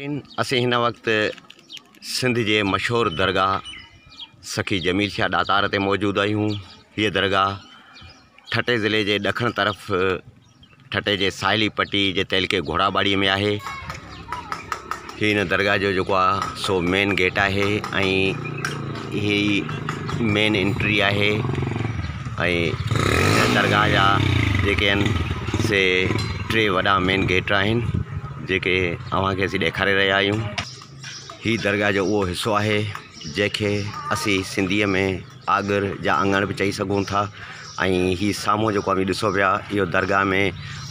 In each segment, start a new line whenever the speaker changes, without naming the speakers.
ناظرين اسين هن
وقت سنڌ جي مشهور درگاهه سخي جميل شاهه ڏاتار تي موجود آهيون هيء درگاهه ٺٽي ضلعي جي ڏکڻ طرف ٺٽي جي ساحلي پٽي جي تعلقي گهوڙا ٻاڙي ۾ آهي هي هن درگاهه جو جيڪو آهي سو مين گيٽ آهي ۽ هي مين انٽري آهي ۽ درگاهه جا جيڪي آهن سي ٽي وڏا مين گيٽ آهن جيڪي اوهان کي اسين ڏيکاري رهيا آهيون هي درگاهه جو اهو حصو آهي جنهن کي اسين سنڌيء ۾ آڳر يا اڱڻ به چئي سگهون ٿا ۽ هي سامهون جيڪو اوهين ڏسو پيا اهو درگاهه ۾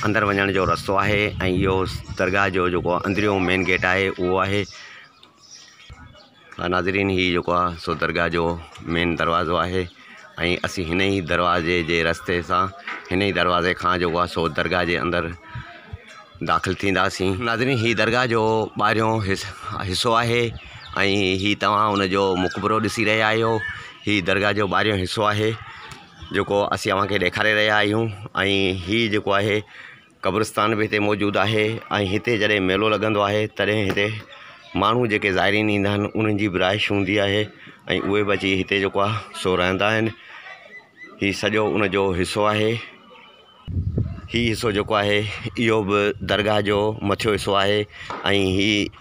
اندر وڃڻ جو رستو آهي ۽ اهو درگاهه جو جيڪو اندريون مين گيٽ آهي اهو آهي ها ناظرين هي جيڪو آ سو درگاهه جو مين دروازو آهي ۽ اسين هن ئي دروازي جي رستي سان هن ئي دروازي کان جيڪو آ سو درگاهه جي اندر داخل ٿينداسين ناظرين هي درگاهه جو ٻاهريون حصو آهي ۽ هي توهان ان جو مقبرو ڏسي رهيا آهيو هي درگاهه جو ٻاهريون حصو آهي جيڪو اسين اوهان کي ڏيکاري رهيا آهيون ۽ هي جيڪو آهي قبرستان به هتي موجود آهي ۽ هتي جڏهن ميلو لڳندو آهي تڏهن هتي ماڻهو جيڪي زائرين ايندا آهن انهن جي به رهائش هوندي آهي ۽ اهي به اچي هتي جيڪو آهي سو رهندا آهن هي سڄو ان جو حصو آهي هي حصو جيڪو آهي اهو به درگاهه جو مٿيون حصو آهي ۽ هي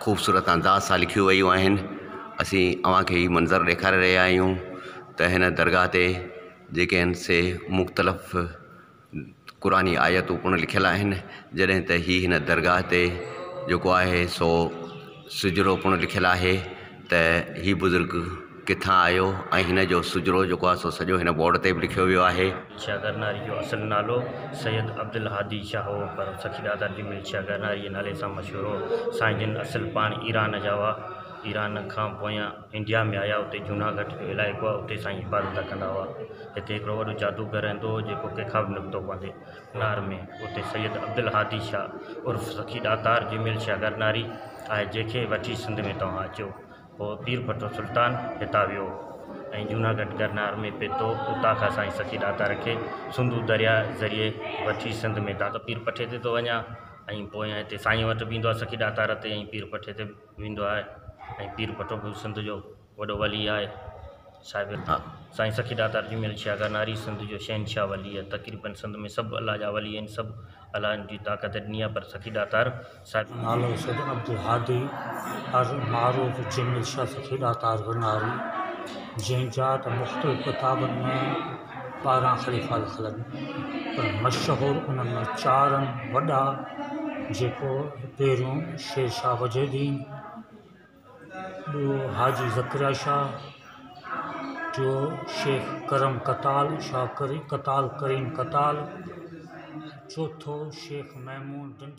خوبصورت انداز سان لکيون ويون آهن اسين اوهان کي هي منظر ڏيکاري رهيا آهيون ته هن درگاهه تي جيڪي آهن سي مختلف قرآن جي آيتون پڻ لکيل آهن جڏهن ته هي هن درگاهه تي جيڪو آهي سو سجرو پڻ لکيل آهي ته هي بزرگ ڪٿان آيو ۽ هن جو سجرو جيڪو آهي سو سڄو هن بورڊ تي به لکيو ويو آهي. ملشيا گرناري جو
اصل نالو سيد عبدالهادي شاهه هو پر سخي دادا جي ملشيا گرناري جي نالي سان مشهور هو. سائين جن اصل پاڻ ايران جا هئا. ايران کان پويان انڊيا ۾ آيا. اتي جوناگهٽ جو علائقو آهي اتي سائين عبادت ڪندا هئا. هتي هڪڙو وڏو جادوگر رهندو هو جيڪو ڪنهن کان به نڪتو پوندي. ڪنار ۾ اتي سيد عبدالهادي شاهه عرف سخي ڏاتار جي ملشيا گرناري آهي جنهن کي وٺي سنڌ ۾ توهان اچو. پوء پير ڀٽو سلطان هتان ويو ۽ جوناگڍ گرنار ۾ پيتو، اتان کان سائين سخي ڏاتار کي سنڌو درياء ذريعي وٺي سنڌ ۾ داتا پير پٺي تي ٿو وڃان ۽ پويان هتي سائين وٽ به ايندو آهي سخي ڏاتار تي ۽ پير پٺي تي به ويندو آهي ۽ پير ڀٽو به سنڌ جو وڏو ولي آهي صاحب سائين سخي ڏاتار جي ميل شاهه گرناري سنڌ جو شهنشاهه ولي آهي تقريبن سنڌ ۾ سڀ الله جا ولي آهن سڀ الله جي طاقت ڏني آهي پر سخي ڏاتار سائين جو نالو سيد
عبدالهادي المعروف جن الشيخ کيڏا تار وناري جنهن جا ته مختلف ڪتابن ۾ ٻارهن خليفا لکل آهن پر مشهور انهن مان چار آهن وڏا جيڪو پهريون شير شاهه وجهه الدين ٻيو حاجي ذڪريا شاهه ٽيو شيخ ڪرم ڪتال شاهه ڪري ڪتال ڪريم ڪتال چوٿو شيخ محمود ڊنڊ